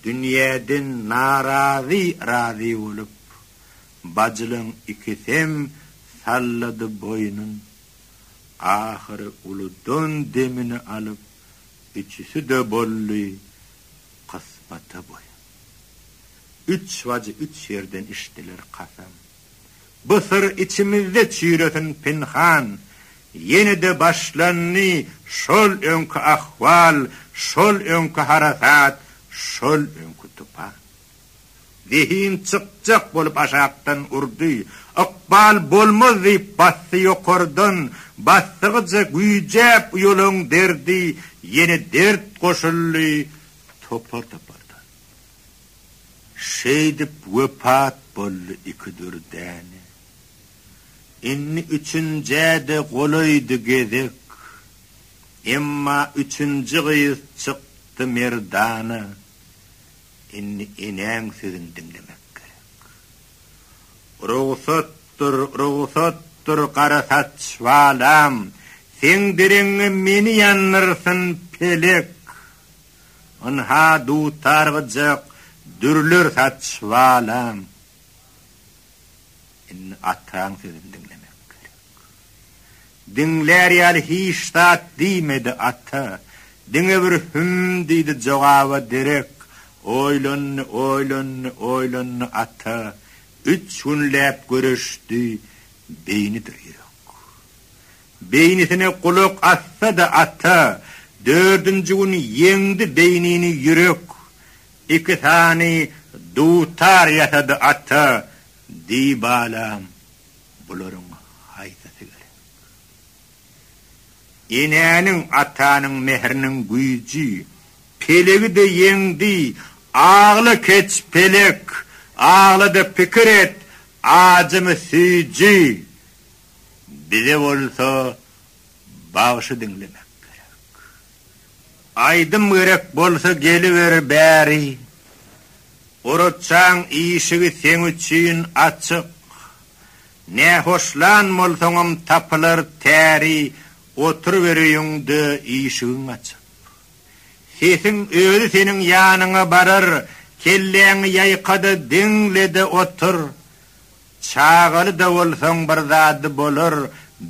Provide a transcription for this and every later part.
Dünýäden narazy razy bolup, bajylaň ikisem sallady boýnun. Ahyry uludan demini alyp, üçüsi-de boldy kysmata boýun. Üç bajy üç ýerden içdiler kasam. Bu syr içimizde çüýresin pynhan. Ýene-de başlandy şol öňki ahwal, şol öňki harasat, şol öňki tupan. Zehin çykjak bolup aşakdan urdy. Ykbal bolmaz diýip basdy ýokardan. Basdygyja güýjäp uýalaň derdi, ýene dert goşuldy topar-topardan. Şeýdip wepat boldy iki dürdäne. Indi üçünjä-de golaýdy gezek. Emma üçünji gyz çykdy merdana. Indi enäň sözüni diňlemek gerek. Rugsatdyr, rugsatdyr gara saç balam, seň dereňňe meni ýandyrsyn pelek. Ynha, dutar gyjak, dürler saç balaň. Indi ataň sözüni diňlemek gerek. Diňlär ýaly hiç zat diýmedi ata. Diňe bir hüm diýdi jogaba derek. Oýlandy, oýlandy, oýlandy ata. Üç günläp göreşdi, beýnidir ýürek. Beýnisine gulak assa-da assa, dördünji gün ýeňdi beýnini ýürek, iki sany dutar ýasady ata, diý balam, bularyň haýsysy gerek? Enäniň, atanyň mähriniň güýji, pelegi-de ýeňdi, agla keç, pelek, agla-da pikir et, ajymy süýji! bize bolsa bagşy diňlemek gerek. Aýdym gerek bolsa geliber bäri. Orazjaň işigi seň üçin açyk. Nähoşlan bolsaňam tapylar täri oturyber öýüňde işigiň açyp. Sesiň özi seniň ýanyňa barar kelläňi ýaýka-da diňle-de otur. Çagaly-da bolsaň bir zady bolar,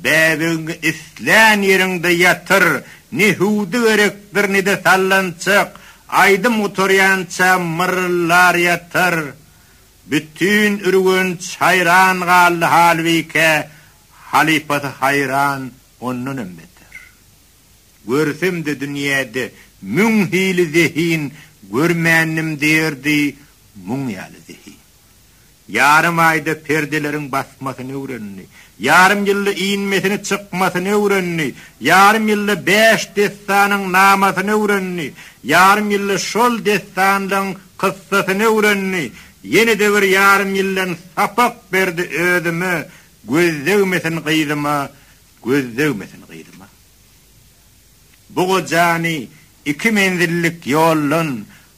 bäbegiňi islän ýeriňde ýatyr, ne hüwdi gerekdir, ne-de sallançak, aýdym gutarýança myrryllar ýatar. Bütin Ürgenç haýran galdy halbike, halypasy haýran ondanam beter. Görsem-de dünýäde müň hili zehin görmändim diýerdi, muň ýaly zehin. Ýarym aýda perdeleriň basmasyny öwrendi. Ýarym ýylda inmesini çykmasyny öwrendi. Ýarym ýylda bäş dessanyň namasyny öwrendi. Ýarym ýylda şol dessanlaň kyssasyny öwrendi. Ýene-de bir ýarym ýyldan sapak berdi özüme göz degmesin gyzyma göz degmesin gyzyma. Bu gojany iki menzillik ýoldan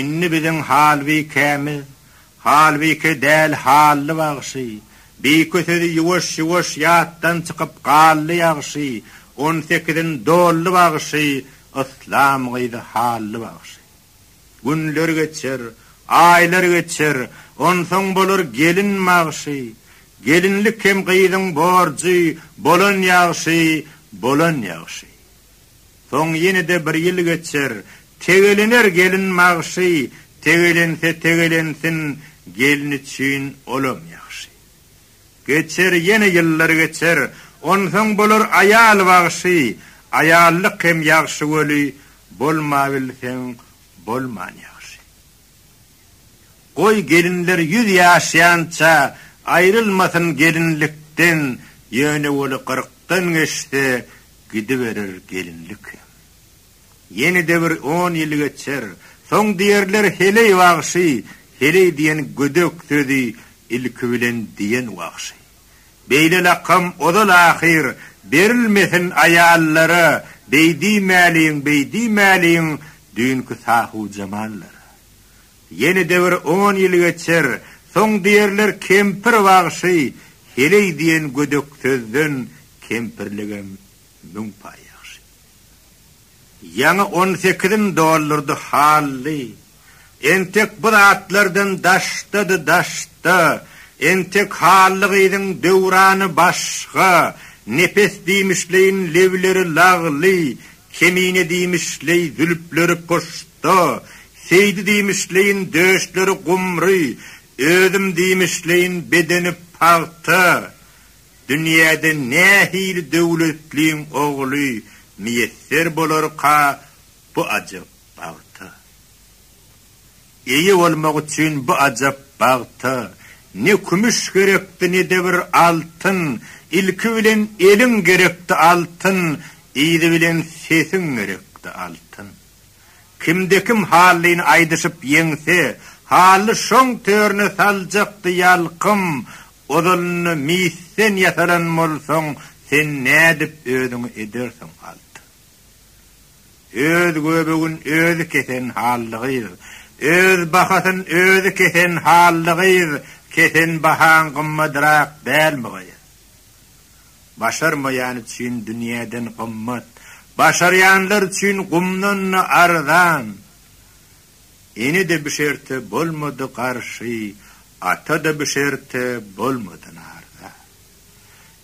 Indi biziň halbikämiz, halbike däl hally bagşy, bike sözi ýuwaş ýuwaş ýatdan çykyp galdy ýagşy, on sekizin doldy bagşy, yslam gyzy hally bagşy. Günler geçer, aýlar geçer, onsoň bolar gelin bagşy, gelinlik hem gyzyň borjy, bolan ýagşy, bolan ýagşy. Soň ýene-de bir ýyl geçer. Tegelener gelin magşy, Tegelense tegelensin, Gelin üçin olam ýagşy. Geçer ýene ýyllar geçer, Onsoň bolar aýal wagşy, Aýallyk hem ýagşy weli, Bolmabilseň bolman ýagşy. Goý gelinler ýüz ýaşýança aýrylmasyn gelinlikden ýöne weli gyrkdan geçse gidiberer gelinlikem. Ýene-de bir on ýyl geçer, soň diýerler heleý wagşy, heleý diýen gödek sözi ilki bilen diýen wagşy. Beýle lakam ozal ahyr berilmesin aýallara beý diýmäliň beý diýmäliň düýnki sahujamallara. Ýenede bir on ýyl geçer soň diýerler kempir wagşy heleý diýen gödek sözden kempirligem müň paý ýagşy. Ýaňy on sekizim doldurdy Hally. Entek bu zatlardan daşdady daşda, entek Hally gyzyň döwrany başga, nepes diýmişleýin lebleri lagly, kemine diýmişleý zülpleri puşda, Seýdi diýmişleýin döşleri gumry, özüm diýmişleýin bedeni pagta. Dünýäde nähili döwletliň ogly miýesser bolarka bu ajap bagta? Eýe bolmak üçin bu ajap bagta ne kümüş gerekdi, ne-de bir altyn, ilki bilen eliň gerekdi altyn, yzy bilen sesiň gerekdi altyn. Kimde-kim hallyny aýdyşyp ýeňse, hally şoň törüne saljakdy ýalkym, Ozalynda misden ýasalan bolsaň, sen nädip özüňi edersiň, alt? Öz göbegin özi kesen hally gyz, öz bahasyn özi kesen hally gyz, kesen bahaň gymmadrak dälmi, gyz? Başarmaýan üçin dünýäden gymmat, başarýanlar üçin gumdan-da arzan. Ene-de bu şerte bolmady garşy, ata-da bu şerte bolmady narza.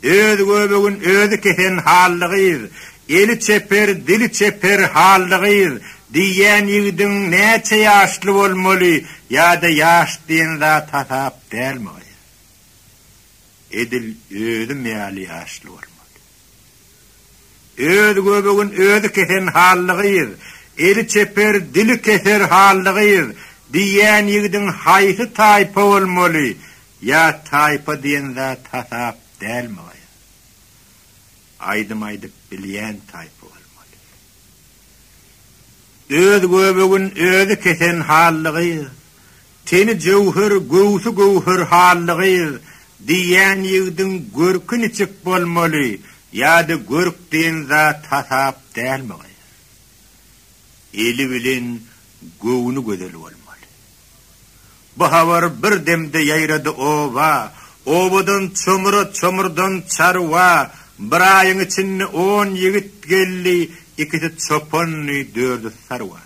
Öz göbegin özi kesen hally gyz, eli çeper, dili çeper hally gyz diýýän ýigidiň näçe ýaşly bolmaly ýa-da ýaş diýen zat hasap dälmi gaýa? Edil özüm ýaly ýaşly bolmaly. Öz göbegin özi kesen hally gyz, eli çeper, dili keser hally gyz diýýän ýigidiň haýsy taýpa bolmaly? Ýa taýpa diýen zat hasap dälmi gaýa? Aýdym aýdyp bilýän taýpa bolmaly. Öz göbegin özi kesen hally gyz, Teni jöwher, göwsi göwher hally gyz diýýän ýigdiň görki niçik bolmaly ýa-da görk diýen zat hasap dälmi gyz? Eli bilen göwni gözel bolmaly. Bu habar bir demde ýaýrady oba, obadan çomura, çomurdan çarwa, bir aýyň içinde on ýigit geldi, ikisi çopandy, dördi sarwa.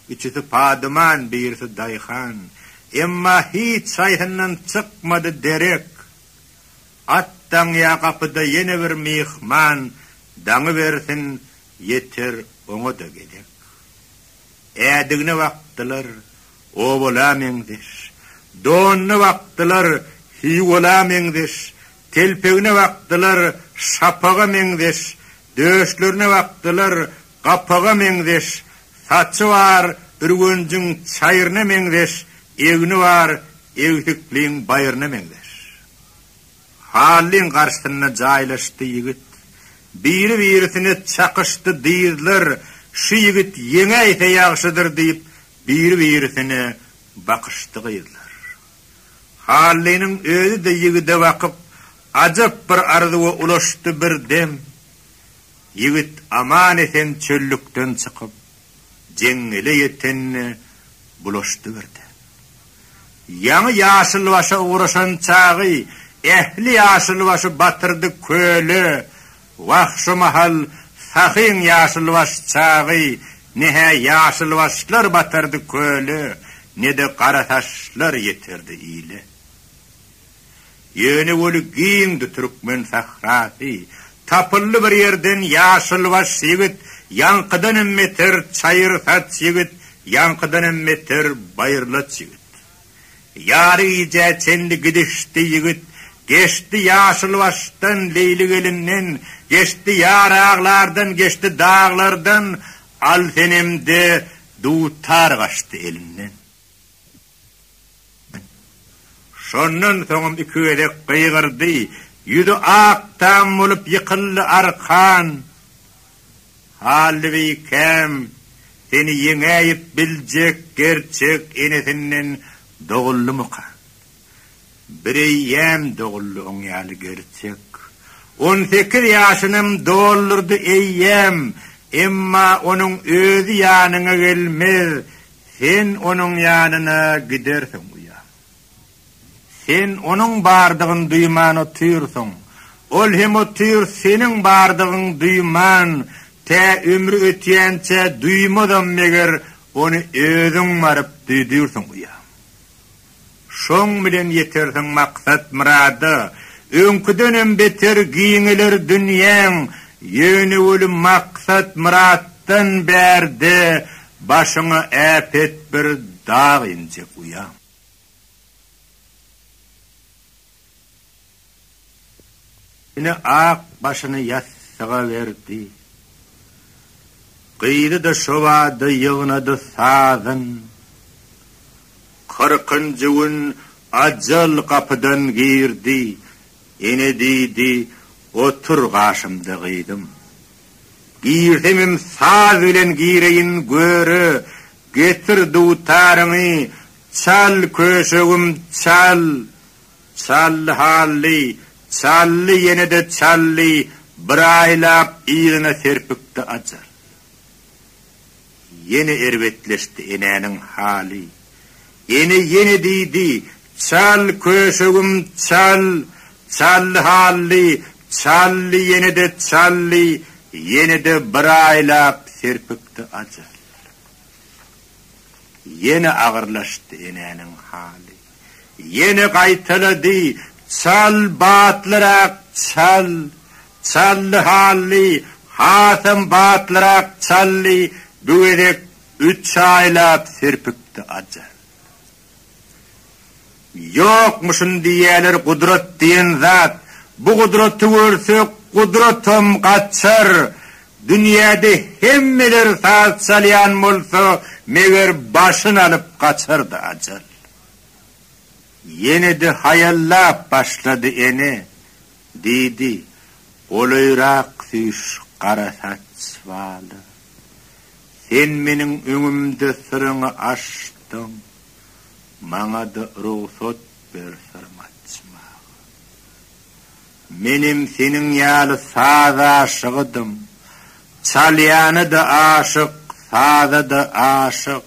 Üçüsi padyman, birisi daýhan. Emma hiç haýsyndan çykmady derek. At daňýa gapyda ýene bir myhman daňybersin, ýeter oňa-da gezek. Ädigine bakdylar, owala meňzeş. Donuna bakdylar, hiwala meňzeş. Telpegine bakdylar, şapaga meňzeş. Döşlerine bakdylar, gapaga meňzeş saçy bar, ürgenjiň çaýryna meňzeş egni bar, egsikliň baýryna meňzeş. Hallyň garşysyna jaýlaşdy ýigit. Biri-birisine çakyşdy dyzlar, Şu ýigit ýeňäýse ýagşydyr diýip, biri-birisine bakyşdy gyzlar. Hallynyň özi-de ýigide bakyp, ajap bir arzuwa ulaşdy bir dem. Ýigit aman-esen çöllükden çykyp, jeňňele ýetende bulaşdy birde. Ýaňy ýaşylbaşa ugraşan çagy ähli ýaşylbaşy batyrdy köle. Wah, şu mahal Sahyň ýaşylbaş çagy ne-hä ýaşylbaşlar batyrdy köle, ne-de garasaçlar ýetirdi ile. Ýöne weli giňdi türkmen sährasy. Tapyldy bir ýerden ýaşylbaş ýigit, Ýaňkydan hem beter çaýyr saç ýigit, Ýaňkydan hem beter baýyrlaç ýigit. Ýary gijä çenli gidişdi ýigit, Geçdi ýaşylbaşdan, Leýli gelinden, Geçdi ýar aglardan, Geçdi daglardan, Al senem-de dutar gaçdy elinden. Şondan soňam iki gezek gygyrdy. Ýüzi ak tam bolup ýykyldy arkan. Hally beý käm, seni ýeňäýip biljek gerçek enesinden doguldymyka? Bireýýäm doguldy oň ýaly gerçek. On sekiz ýaşynam doldurdy eýýäm, emma onuň özi ýanyňa gelmez, Sen onuň ýanyna gidersiň, uýa. Sen onuň bardygyny duýman otyrsyň, ol hem otyr seniň bardygyňy duýman, tä ömri ötýänçä duýmazam, meger ony özüň baryp duýdyrsyň, uýa. Şoň bilen ýetersiň maksat-myrada, öňküdenem beter giňeler dünýäň, ýöne welin maksat-myratdan bärde başyňa äpet bir dag injek uýam. Ine ak başyny ýassyga berdi. Gyzy-da şo bada ýygnady sazyn. Kyrkynjy gün ajal gapydan girdi. Ene diýdi, Otur gaşymda gyzym. Girsemem saz bilen gireýin göre, getir dutaryňy, Çal köşegim, çal! Çal hally, çally ýene-de çally bir aýlap yzyna serpikdi Ajar. Ýene erbetleşdi enäniň haly. Ene ýene diýdi, Çal köşegim, çal! Çal hally, çally ýene-de çally ýene-de bir aýlap serpikdi Ajar. Ýene agyrlaşdy enäniň haly. Ýene gaýtalady, Çal, batlyrak çal! Çaldy hally, hasam batlyrak çaldy, bu gezek üç aýlap sürpüpdi ajal. Ýokmuşyn diýýäler gudrat diýen zat. Bu gudraty görse gudratam gaçar. Dünýäde hemmeler saz çalýan bolsa meger başyn alyp gaçardy ajal. Ýene-de haýallap başlady ene. Diýdi, Golaýrak süýş, gara saç baly. Sen meniň öňümde syryňy açdyň, maňa-da rugsat ber syryňy açmaga. Menem seniň ýaly saz aşygydym. Çalýana-da aşyk, saza-da aşyk.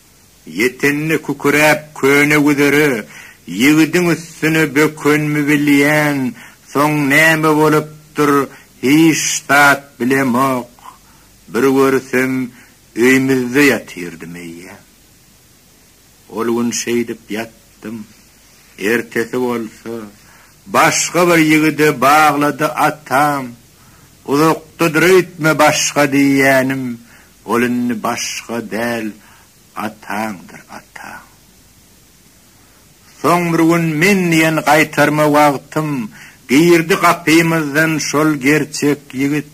Ýetende küküräp köne güzere, Ýigidiň üstüne bökenmi bilýän, Soň näme bolupdyr, hiç zat bilemok. Bir görsem, öýmüzde ýatyrdym eýýäm. Ol gün şeýdip ýatdym. Ertesi bolsa, başga bir ýigide baglady atam. Uzakdadyr öýtme başga diýýänim, Ol indi başga däl ataňdyr ataň. Soň bir gün men diýen gaýtarma wagtym girdi gapymyzdan şol gerçek ýigit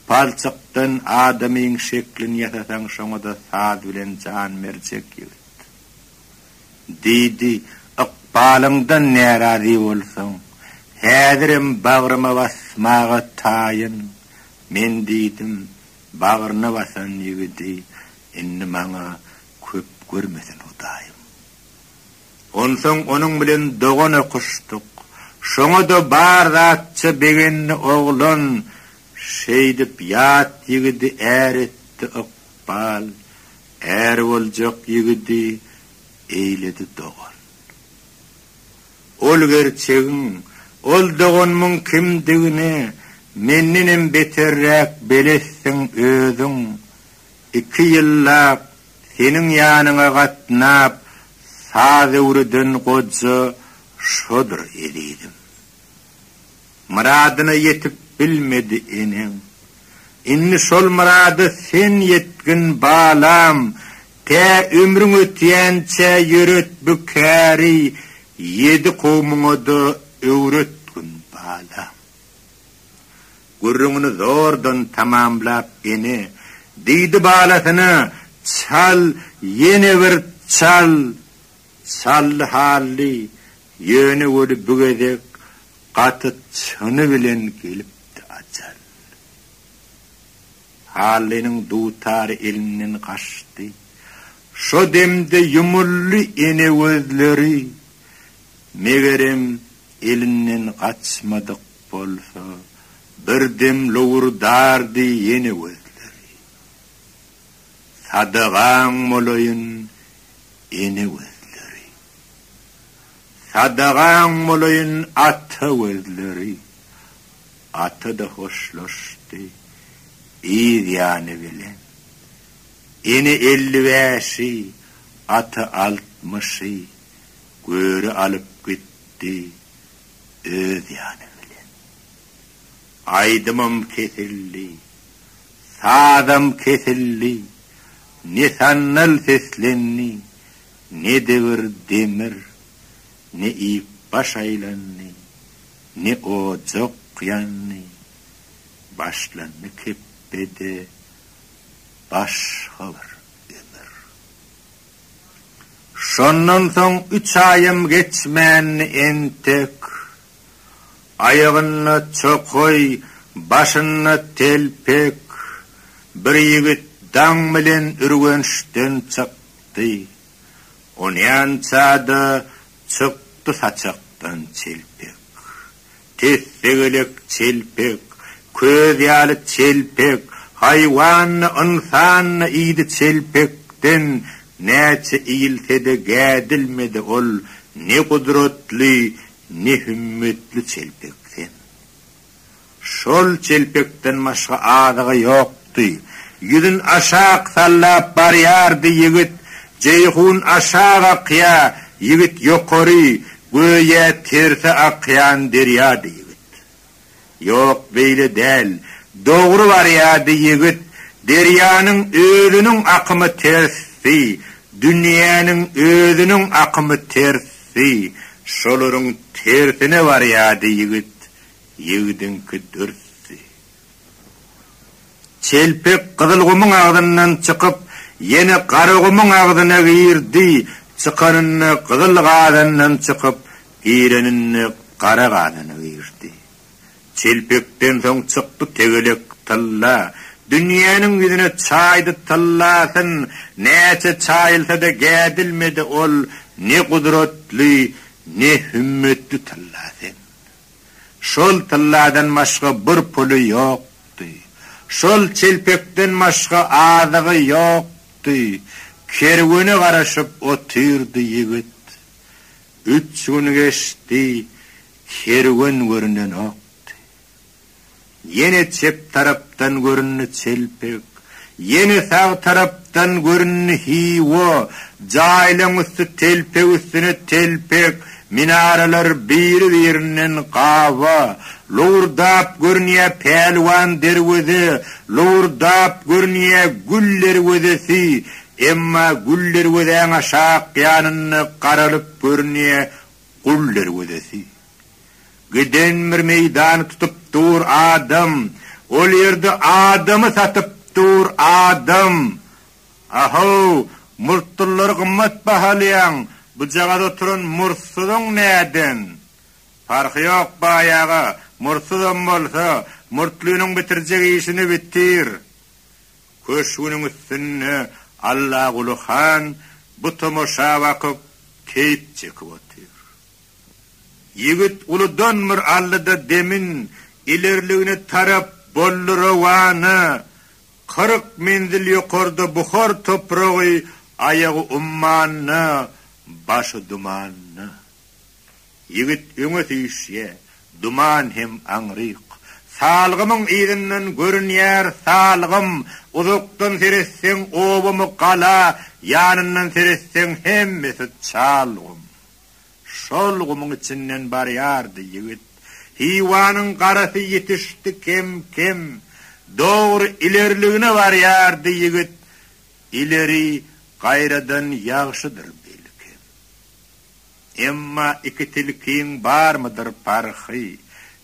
palçykdan adamyň şeklini ýasasaň şoňada saz bilen jan berjek ýigit. Diýdi ykbalyňdan närazy bolsaň häzirem bagryma basmaga taýyn men diýdim Bagryna basan ýigidi indi maňa köp görmesin Hudaýym. Onsoň onuň bilen dogan okuşdyk. Şoňa-da bar zatça begendi oglan. Şeýdip ýat ýigidi är etdi ykbal. Är boljak ýigidi eýledi dogan. Ol gerçegiň, ol doganymyň kimdigini mendenem beterräk belesdiň özüň. Iki ýyllap seniň ýanyňa gatnap saz öwreden goja şodur ezizim. Myradyna ýetip bilmedi eneň. Indi şol myrada sen ýetgin, balam! Tä ömrüň ötýänçä ýöret bu käri, ýedi kowmuňa-da öwretgin, balam! Gürrüňini zordan tamamlap ene, diýdi balasyna, Çal, ýene bir çal! Çally-hally, ýöne weli bu gezek Gaty çyny bilen gelipdi ajal. Hallynyň dutary elinden gaçdy. Şo demde ýumuldy ene gözleri. Megerem, elinden gaçmadyk bolsa, birdem lowurdardy ene gözleri. Sadagaň bolaýyn, ene gözleri. Sadagaň bolaýyn ata gözleri. Ata-da hoşlaşdy. Yz ýany bilen. Ene elli bäşi, ata altmyşy göri alyp gitdi öz ýany bilen. Aýdymym kesildi. Sazam kesildi. Nesannal seslendi. Ne dewir demir, ne ip baş aýlandy, ne ojak ýandy, başlandy kepbede başga bir ömür. Şondan soň üç aýam geçmändi entek, aýagynda çokaý, başynda telpek bir ýigit daň bilen Ürgençden çykdy. çykdy. Onýança-da çykdy saçakdan çelpek. Tes-tegelek çelpek, köz ýaly çelpek, haýwandy, ynsandy, idi çelpekden näçe iýilse-de gädilmedi ol ne gudratly, ne hümmetli çelpek sen. Şol çelpekden başga azygy ýokdy. Ýüzün aşak sallap barýardy ýigit. Jeýhun aşak akýa, ýigit ýokary, göýä terse akýan derýady ýigit. Ýok, beýle däl, dogry barýady ýigit. Derýanyň özüniň akymy tersdi, dünýäniň özüniň akymy ters. Beý, şolaryň tersine barýardy ýigit, ýigidiňki dürsdi. Çelpek Gyzylgumyň agzyndan çykyp, ýene Garagumyň agzyna girdi, çykanynda Gyzyl gazandan çykyp, gireninde Gara gazana girdi. Telpekden soň çykdy tegelek tylla, Dünýäniň ýüzüne çaýdy tyllasyn, Näçe çaýylsa-da gädilmedi ol, Ne gudratly, ne hümmetli tyllasyn. Şol tylladan başga bir puly ýokdy, Şol telpekden başga azygy ýokdy, Kerwene garaşyp otyrdy ýigit. Üç gün geçdi. Kerwen görünenokdy. Ýene çep tarapdan göründi çelpek. Ýene sag tarapdan göründi Hiwa. Jaýlaň üsti telpek üstüne telpek. Minaralar biri-birinden gaba. Lowurdap görünýä Pälwan derweze. Lowurdap görünýä Gül derwezesi. Emma Gül derwezäň aşak ýanynda garalyp görünýä Gul derwezesi. Giden bir meýdany tutup dur adam, ol ýerde adamy satyp dur adam. Ahow, murtdylary gymmat bahalýaň, bujagaz oturan murtsuzyň näden? Parhy ýok baý aga, murtsuzam bolsa, murtlynyň bitirjek işini bitir. Köşgüniň üstünde Allaguly han bu tomaşa bakyp, keýp çekip otyr. Ýigit uludan bir aldy-da demin ilerligine tarap boldy rowana. Kyrk menzil ýokarda buhar topragy aýagy ummanda, başy dumanda. Ýigit öňe süýşýä, duman hem aňryk. Salgymyň yzyndan görünýär salgym, uzakdan seretseň obamy gala, ýanyndan seretseň hemmesi çal gum. Şol gumuň içinden barýardy ýigit. Hiwanyň garasy ýetişdi kem-kem. Dogry ilerligine barýardy ýigit. Ileri gaýradan ýagşydyr belkem. Emma iki tilkiň barmydyr parhy?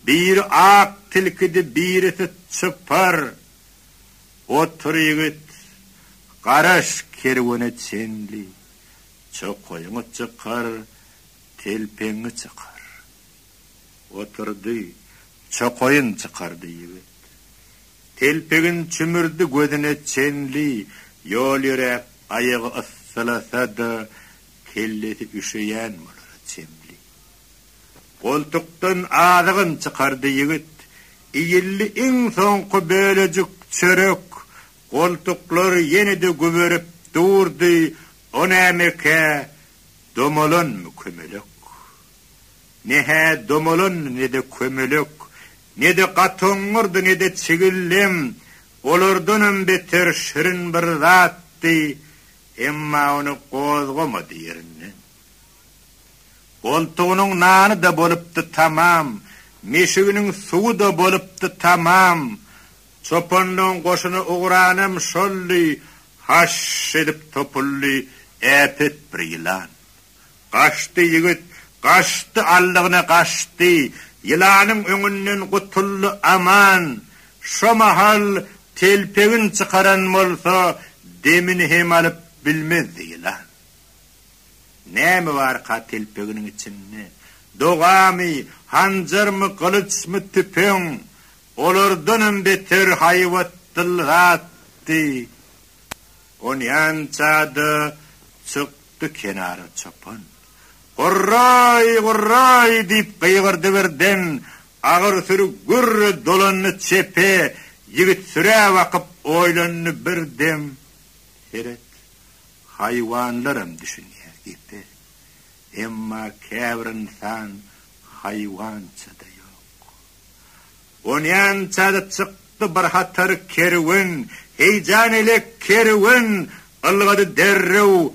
Biri ak tilkidi, birisi çypar. Otur, ýigit, garaş kerwene çenli. Çokaýyňy çykar, telpegiňi çykar. Oturdy. Çokaýyn çykardy ýigit. Telpegin çümürdi gözüne çenli. Ýol ýöräp, aýagy yssylasa-da, Kellesi üşeýän bolara çemli. Goltukdan azygyn çykardy ýigit. Iýildi iň soňky bölejik çörek. Goltuklar ýene-de güberip durdy, O nämekä, domalanmy kömelek? Ne-hä domalandy, ne-de kömelek, ne-de gatoňňurdy, ne-de çigildem, olardanam beter şirin bir zatdy, Emma ony gozgamady ýerinden. Goltugynyň nany-da bolupdy tamam, meşiginiň suwy-da bolupdy tamam. Çopanlygyň goşuny ugranam şoldy, haş edip topuldy äpet bir ýylan. Gaçdy ýigit, gaçdy aldygyna gaçdy, ýylanyň öňünden gutuldy aman. Şo mahal telpegin çykaran bolsa demini hem alyp bilmezdi ýylan. Näme barka telpeginiň içinde? Dogamy, hanjarmy, gylyçmy, tüpeň. Olardanam beter haýbatdyl zatdy. Onýança-da çykdy kenara çopan. Gurraý, gurraý! diýip gygyrdy birden. Agyr süri gürre dolandy çepe. Ýigit sürä bakyp oýlandy bir dem. Seret, haýwanlaram düşünýär gepe. Emma käbir ynsan haýwança-da ýok. Onýan çady çykdy bir hatar kerwen, Heýjan elek kerwen ylgady derrew,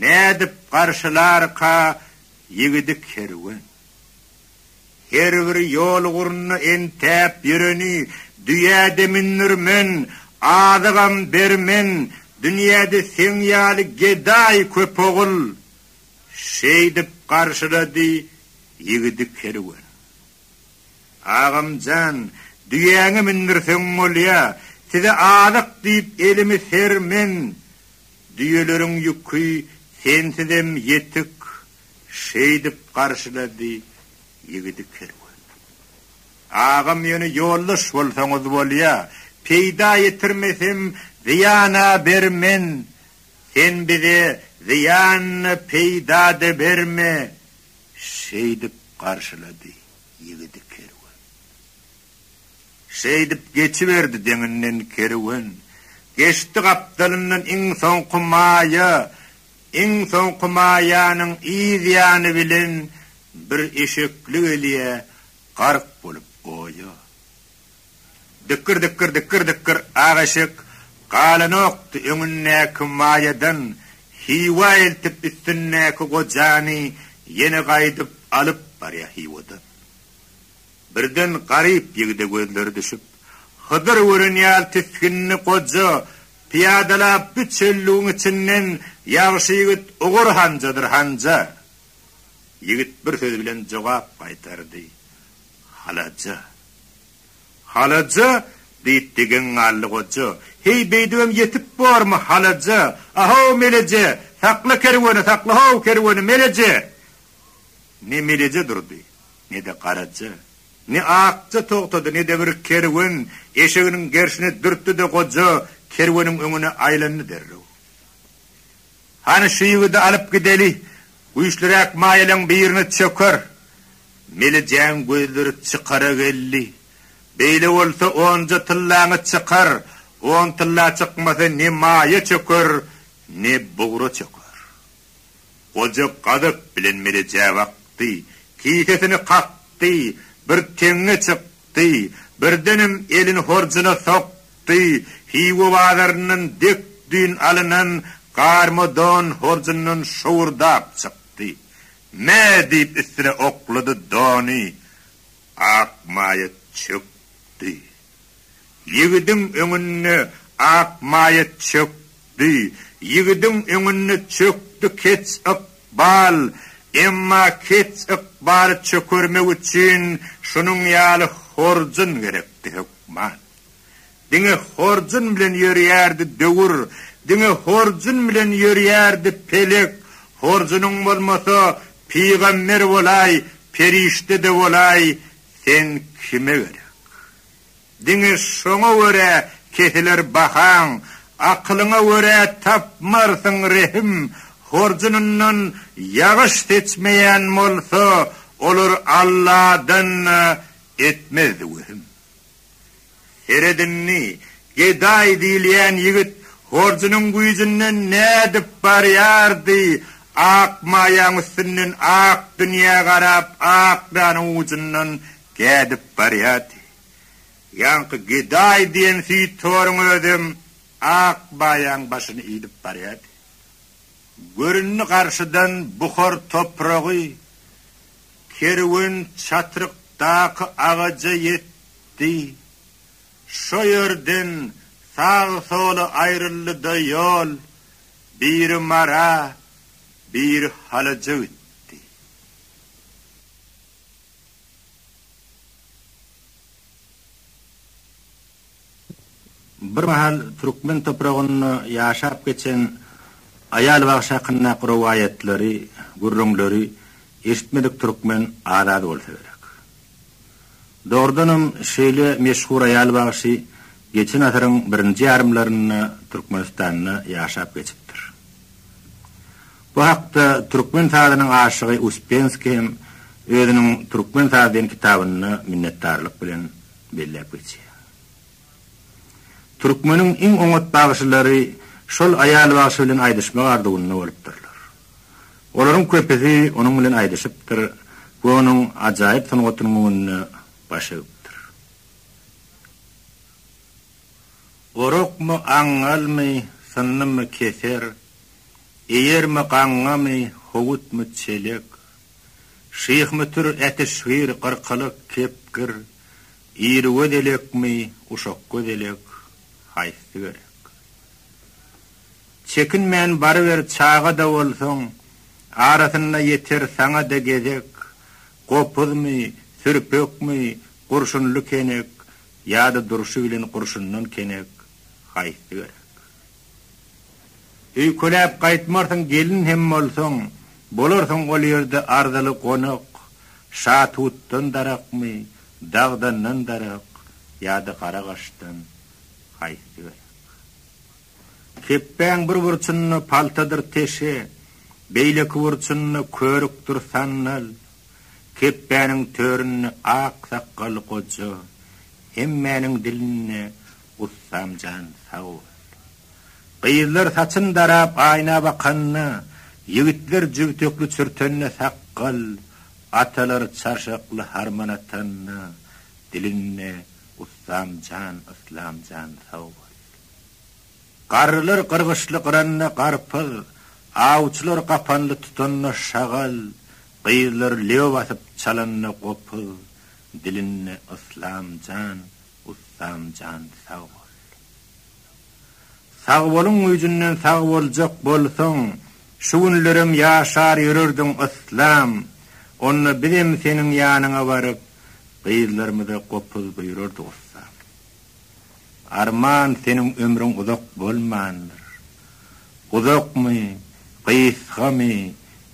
Nädip garşylarka ýigidi kerwen. Her bir ýol gurna entäp ýöreni, Düýä-de mündürmen, azygam bermen, Dünýäde seň ýaly gedaý köp ogul. Şeýdip garşylady ýigidi kerwen. Agam jan, düýäňi mindirseň bolýa, size azyk diýip elimi ser men, düýeleriň ýüki sensizem ýetik, şeýdip garşylady ýigidi kerwen. Agam ýöne ýoldaş bolsaňyz bolýa, peýda ýetirmesem zyýana ber men, Sen bize zyýan-da, peýda-da berme! şeýdip garşylady ýigidi kerwen. Şeýdip geçiberdi deňinden kerwen. Geçdi gapdalyndan iň soňky maýa. Iň soňky maýanyň yz ýany bilen bir eşekli gelýä, gark bolup goýa. Dykgyr dykgyr dykgyr dykgyr ak eşek galanokdy öňündäki maýadan Hiwa eltip üstündäki gojany ýene gaýdyp alyp barýa Hiwadan birden garyp ýigide gözleri düşüp Hydyr gören ýaly tisginli goja pyýadalap bu çöllügiň içinden ýagşy ýigit Ogur Hanjadyr Hanja ýigit bir söz bilen jogap gaýtardy Halaja! Halaja! diýip degen galdy goja. Heý, beýdibem ýetip bormy, halaja! A-how, meleje! Sakla kerweni, sakla-how, kerweni, meleje! Ne meleje durdy, ne-de garaja, ne akja togtady, ne-de bir kerwen eşeginiň gerşine dürtdi-de goja kerweniň öňüne aýlandy derrew. Hany şu ýigidi alyp gideli, güýçliräk maýalaň birini çöker. Melijeň gözleri çykara geldi. Beýle bolsa onja tyllaňy çykar, on tylla çykmasa ne maýa çöker, ne bugra çöker. Goja gazap bilen Melejä bakdy, kisesini kakdy, bir teňňe çykdy, birdenem elini horjuna sokdy. çykdy, Hywa bazaryndan dek düýn alynan garma don horjundan şowurdap çykdy. Mä! diýip üstüne oklady dony. Ak maýa çökdi. Ýigidiň öňünde ak maýa çökdi. Ýigidiň öňünde çökdi keç yk bal. Emma keç yk baly çökermek üçin şunuň ýaly horjun gerekdi, hökman. Diňe horjun bilen ýörýärdi döwür, Diňe horjun bilen ýörýärdi pelek, Horjunyň bolmasa, pygamber bolaý, Perişde-de bolaý, sen kime gerek? Diňe şoňa görä kesiler bahaň, Akylyňa görä tapmarsyň rehim, Horjunyndan ýagyş seçmeýän bolsa, Olar Alladan-da etmezdi wehim. Seredinmi, gedaý diýilýän ýigit horjunyň güýjünden nädip barýardy, ak maýaň üstünden ak dünýä garap ak danyň ujundan gädip barýardy. Ýaňky gedaý diýen süýthoruň özem ak maýaň başyny iýdip barýardy. Göründi garşydan buhar topragy, Kerwen çatrykdaky agaja ýetdi. Şo ýerden sag-sola aýryldy-da ýol biri Mara, biri Halaja gitdi. Bir mahal türkmen topragynda ýaşap geçen aýal bagşy hakyndaky rowaýatlary, gürrüňleri eşitmedik türkmen az-az bolsa gerek. Dogrudanam, şeýle meşhur aýal bagşy geçen asyryň birinji ýarymlarynda Türkmenistanda ýaşap geçipdir. Bu hakda türkmen sazynyň aşygy Uspenskiý hem özüniň Türkmen saz diýen kitabynda minnetdarlyk bilen belläp geçýär. Türkmeniň iň oňat bagşylary şol aýal bagşy bilen aýdyşmak arzuwynda bolupdyrlar. Olaryň köpüsi onuň bilen aýdyşypdyr we onuň ajaýyp sungatynyň öňünde baş egipdir. Orakmy, aňňalmy, synnymy keser, eýermi, gaňňamy, howutmy, çelek. Şyhmytyr, Äteşgir, Gyrkalyk, Kepgir, Irigöz elekmi, Uşakgöz elek, haýsy gerek? Çekinmän baryber çaga-da bolsaň, arasynda ýeter saňa-da gezek, Gopuzmy, Sürpekmi, Gurşunly Kenek, ýa-da durşy bilen gurşundan kenek, haýsy gerek? Öýkeläp gaýtmarsyň gelin hem bolsaň, bolarsyň ol ýerde arzyly gonak, şa tutdan darakmy, dagdandan darak ýa-da gara gaşdan, haýsy berak. Kepbäň bir burçunda paltadyr teşe, beýleki burçunda körükdir sandal, kepbäniň töründe ak sakgaly goja, hemmäniň dilinde Ussamjan sag bol. Gyzlar saçyn darap aýna bakanda, ýigitler jübtekli çürtende sakgal, atalar çarşakly harman atanda dilinde Ussamjan Yslamjan sag bol. Garrylar gyrgyçly gyranda garpyz, awçylar gapanly tutanda şagal, gyzlar lebe basyp çalanda gopuz dilinde Yslamjan Ustamjan sag bol. Sagboluň güýjünden sag boljak bolsaň şu günlerem ýaşar ýörerdiň yslam onda bizem seniň ýanyňa baryp gyzlarymyza gopuz buýrardyk ussam. Arman seniň ömrüň uzak bolmandyr. Uzakmy, gysgamy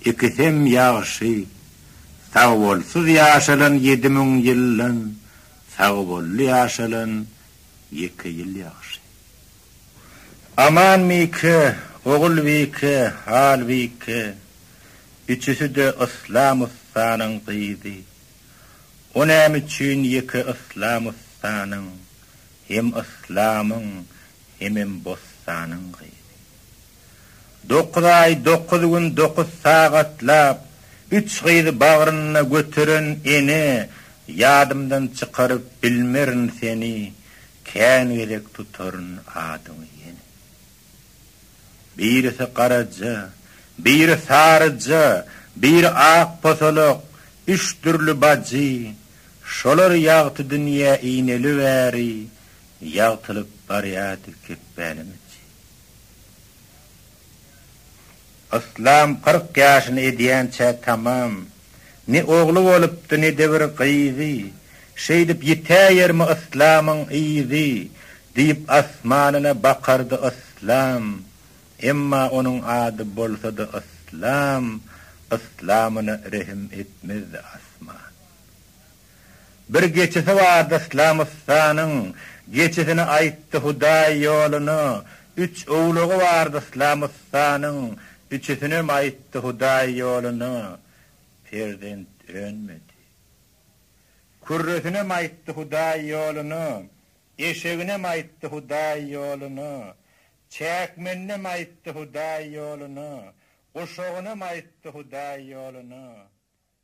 ikisem ýagşy. Sagbolsyz ýaşalan ýedi müň ýyldan Sag bolly ýaşalan ýeke ýyl ýagşy. Aman Mike, Ogul Wike, Hal Wike, üçüsi-de Yslam ussanyň gyzy. O näme üçin ýeke Yslam ussanyň, hem Yslamyň, hemem Bossanyň gyzy? Dokuz aý, dokuz gün, dokuz sagatlap üç gyzy bagrynda göteren ene Ýadymdan çykaryp bilmerin seni Kän gezek tutaryn adyňy ýene. Birisi garaja, biri saryja, biri ak posolak, Üç dürli bajy, şolar ýagty dünýä ineli bäri Ýagtylyp barýardy kepbäniňçe. Yslam kyrk ýaşyny edýänçä tamam. Ne ogly bolupdy, ne-de bir gyzy. Şeýdip ýitäýermi Yslamyň yzy? diýip asmanyna bakardy Yslam. Emma onuň ady bolsa-da Yslam, Yslamyna rehim etmezdi asman. Bir geçisi bardy Yslamystanyň, Geçisini aýtdy Hudaý ýoluna, Üç owlagy bardy Yslamystanyň, Üçüsinem aýtdy Hudaý ýoluna. Perzent önmedi. Kürresinem aýtdy Hudaý ýoluna, Eşeginem aýtdy Hudaý ýoluna, Çäkmeninem aýtdy Hudaý ýoluna, Guşagynam aýtdy Hudaý ýoluna.